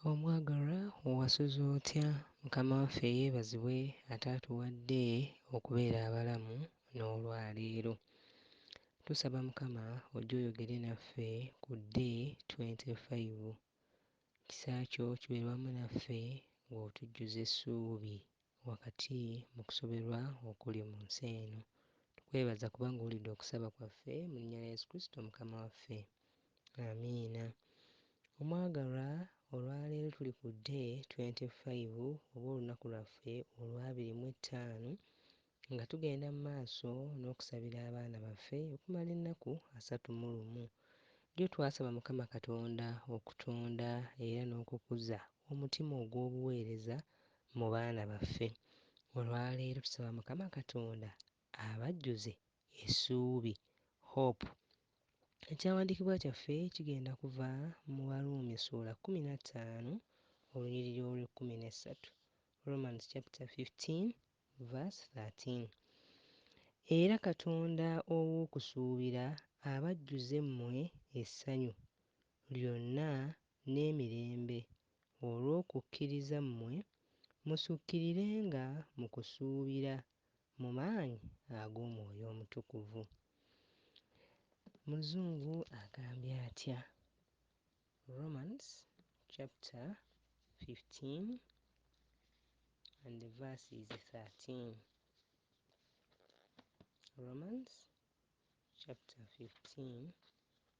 Omwagalwa wasuze otya mukama waffe yebazibwe ataatuwadde okubeera abalamu n'olwaleero. Tusaba mukama ojje oyogere naffe ku day twenty five. Kisa kyo kibeere wamu naffe ng'otujjuza essuubi wakati mu kusoberwa okuli mu nsi eno. Tukwebaza kubanga owulidde okusaba kwaffe mu linnya lya Yesu Kristo Mukama waffe. Amiina. Omwagalwa, olwaleero tuli ku day 25 oba olunaku lwaffe olwabiri mu ettaano nga tugenda mu maaso n'okusabira abaana baffe okumala ennaku asatu mu lumu. Jjo twasaba Mukama Katonda okutonda era n'okukuza omutima ogw'obuweereza mu baana baffe. Olwaleero tusaba Mukama Katonda abajjuze essuubi, hope. Ekyawandiikibwa kyaffe kigenda kuva mu Baruumi ssuula kkumi na ttaano olunyiriri olw'ekkumi n'essatu, Romans chapter fifteen verse thirteen. Era Katonda ow'okusuubira abajjuze mmwe essanyu lyonna n'emirembe olw'okukkiriza mmwe, musukkirirenga mu kusuubira mu maanyi ag'Omwoyo Omutukuvu. Muzungu agambye atya? Romans chapter 15 and the verse is 13. Romans chapter 15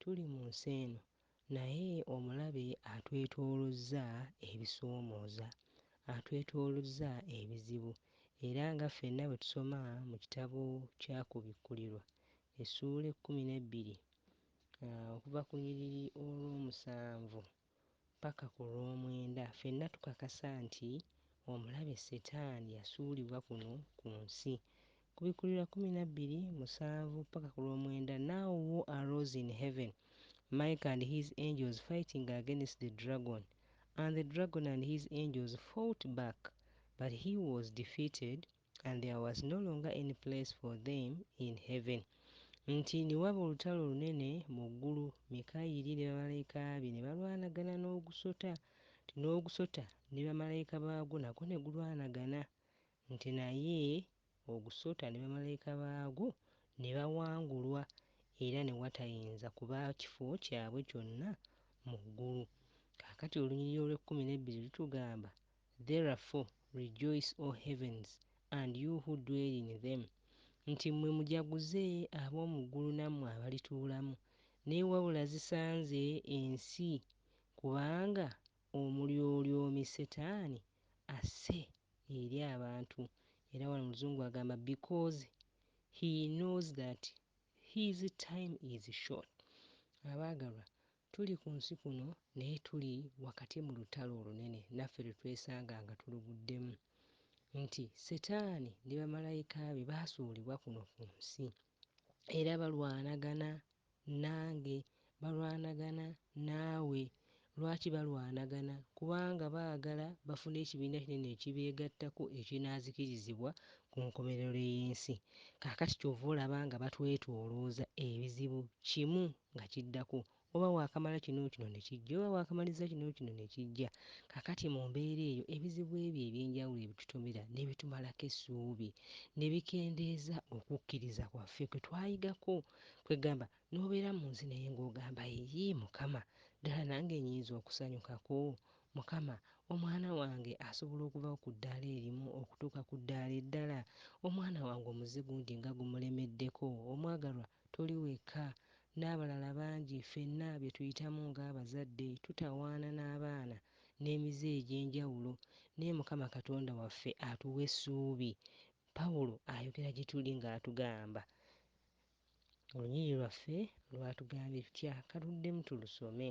Tuli mu nsi eno, naye omulabe atwetoolozza ebisoomooza, atwetoolozza ebizibu. Era nga ffenna bwe tusoma mu kitabo kya Kubikkulirwa essuula ekkumi n'ebbiri okuva ku lunyiriri olw'omusanvu, ppaka ku lw'omwenda, ffenna tukakasa nti omulabe Setaani yasuulibwa kuno ku nsi. Kubikkulirwa kkumi na bbiri, musanvu ppaka ku lw'omwenda, Now war arose in heaven, Michael and his angels fighting against the dragon, and the dragon and his angels fought back, but he was defeated, And there was no longer any place for them in heaven, nti ne waba olutalo olunene mu ggulu, Mikayiri ne bamalayika be ne balwanagana n'ogusota, nti n'ogusota ne bamalayika baagwo nagwo ne gulwanagana, nti naye ogusota ne bamalayika baagwo ne bawangulwa era ne watayinza kuba kifo kyabwe kyonna mu ggulu. Kaakati olunyiriri olw'ekkumi n'ebbiri lutugamba Therefore rejoice, O heavens, and you who dwell in them, nti mmwe mujaguze ab'omu ggulu nammwe abalituulamu, naye wabula zisanze ensi, kubanga Omulyolyomi Setaani asse eri abantu, era wano mu Luzungu agamba because he knows that his time is short. Abaagalwa, Tuli ku nsi kuno, naye tuli wakati mu lutalo olunene naffe lwe twesanga nga tuluguddemu, nti Setaani ne bamalayika be baasuulibwa kuno ku nsi, era balwanagana nange, balwanagana naawe. Lwaki balwanagana? Kubanga baagala bafune ekibiina kinene ekibeegattako ekinaazikirizibwa ku nkomerero y'ensi. Kaakati ky'ova olaba nga batwetoolooza, ebizibu kimu nga kiddako, oba waakamala kino kino ne kijja, oba waakamaliza kino kino ne kijja. Kaakati mu mbeera eyo, ebizibu ebyo eby'enjawulo ebitutomera ne bitumalako essuubi, ne bikendeeza okukkiriza kwaffe kwe twayigako. Kwegamba, n'obeera mu nsi naye ng'ogamba, Yii, Mukama, ddala nange nnyinza okusanyukako? Mukama, omwana wange asobola okuva ku ddaala erimu okutuuka ku ddaala eddala? Omwana wange omuze gungi nga gumulemeddeko. Omwagalwa, toli wekka. N'abalala bangi. Ffenna bye tuyitamu nga abazadde, tutawaana n'abaana, n'emize egy'enjawulo. Naye Mukama Katonda waffe atuwa essuubi. Pawulo ayogera gye tuli nga atugamba. Olunyiriri lwaffe lwatugambye tutya? Ka tuddemu tulusome.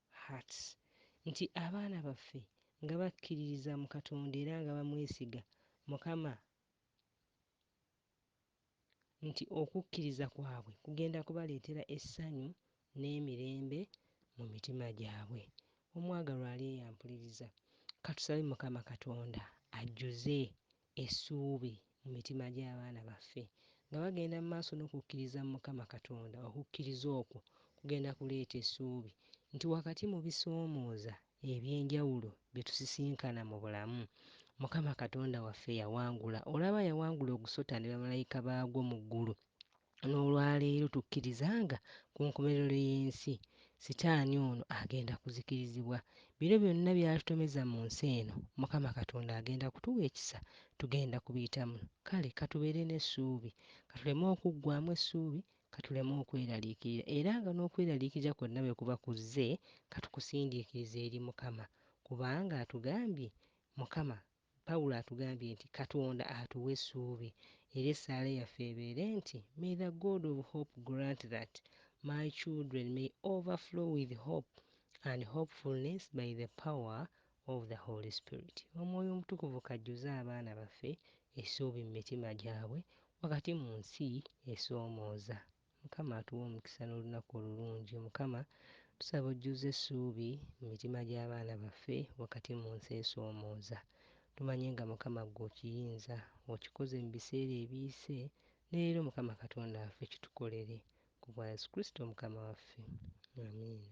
Hearts, nti abaana baffe nga bakkiririza mu Katonda era nga bamwesiga, Mukama, nti okukkiriza kwabwe kugenda kubaleetera essanyu n'emirembe mu mitima gyabwe. Omwagalwa ali eyo ampuliriza, ka tusabe Mukama Katonda ajjuze essuubi mu mitima gy'abaana baffe nga bagenda mu maaso n'okukkiriza mu Mukama Katonda, okukkiriza okwo kugenda kuleeta essuubi nti wakati mu bisoomooza eby'enjawulo bye tusisinkana mu bulamu, Mukama Katonda waffe yawangula. Olaba, yawangula ogusota ne bamalayika baagwo mu ggulu. N'olwaleero tukkiriza nga ku nkomerero y'ensi, Sitaani ono agenda kuzikirizibwa. Bino byonna by'atutomeza mu nsi eno, Mukama Katonda agenda kutuwa ekisa. Tugenda kubiyitamu. Kale ka tubeere n'essuubi. Ka tuleme okuggwaamu essuubi. Ka tuleme okweraliikirira. Era nga n'okweraliikirira kwonna bwe kuba kuzze, ka tukusindiikirize eri Mukama, kubanga atugambye, Mukama Pawulo atugambye nti Katonda atuwa essuubi, era essaala yaffe ebeere nti, May the God of hope grant that my children may overflow with hope and hopefulness by the power of the Holy Spirit. Omwoyo Omutukuvu k'ajjuze abaana baffe essuubi mu mitima gyabwe wakati mu nsi esoomooza. Mukama atuwe omukisa nolunaku olulungi mukama tusaba ojjuze esuubi mu mitima gyabaana baffe wakati mu nsi esoomooza tumanyi nga mukama ggwe okiyinza okikoze mu biseera ebiyise ne leero mukama katonda waffe kitukolere ku bwa yesu kristo mukama waffe amiina.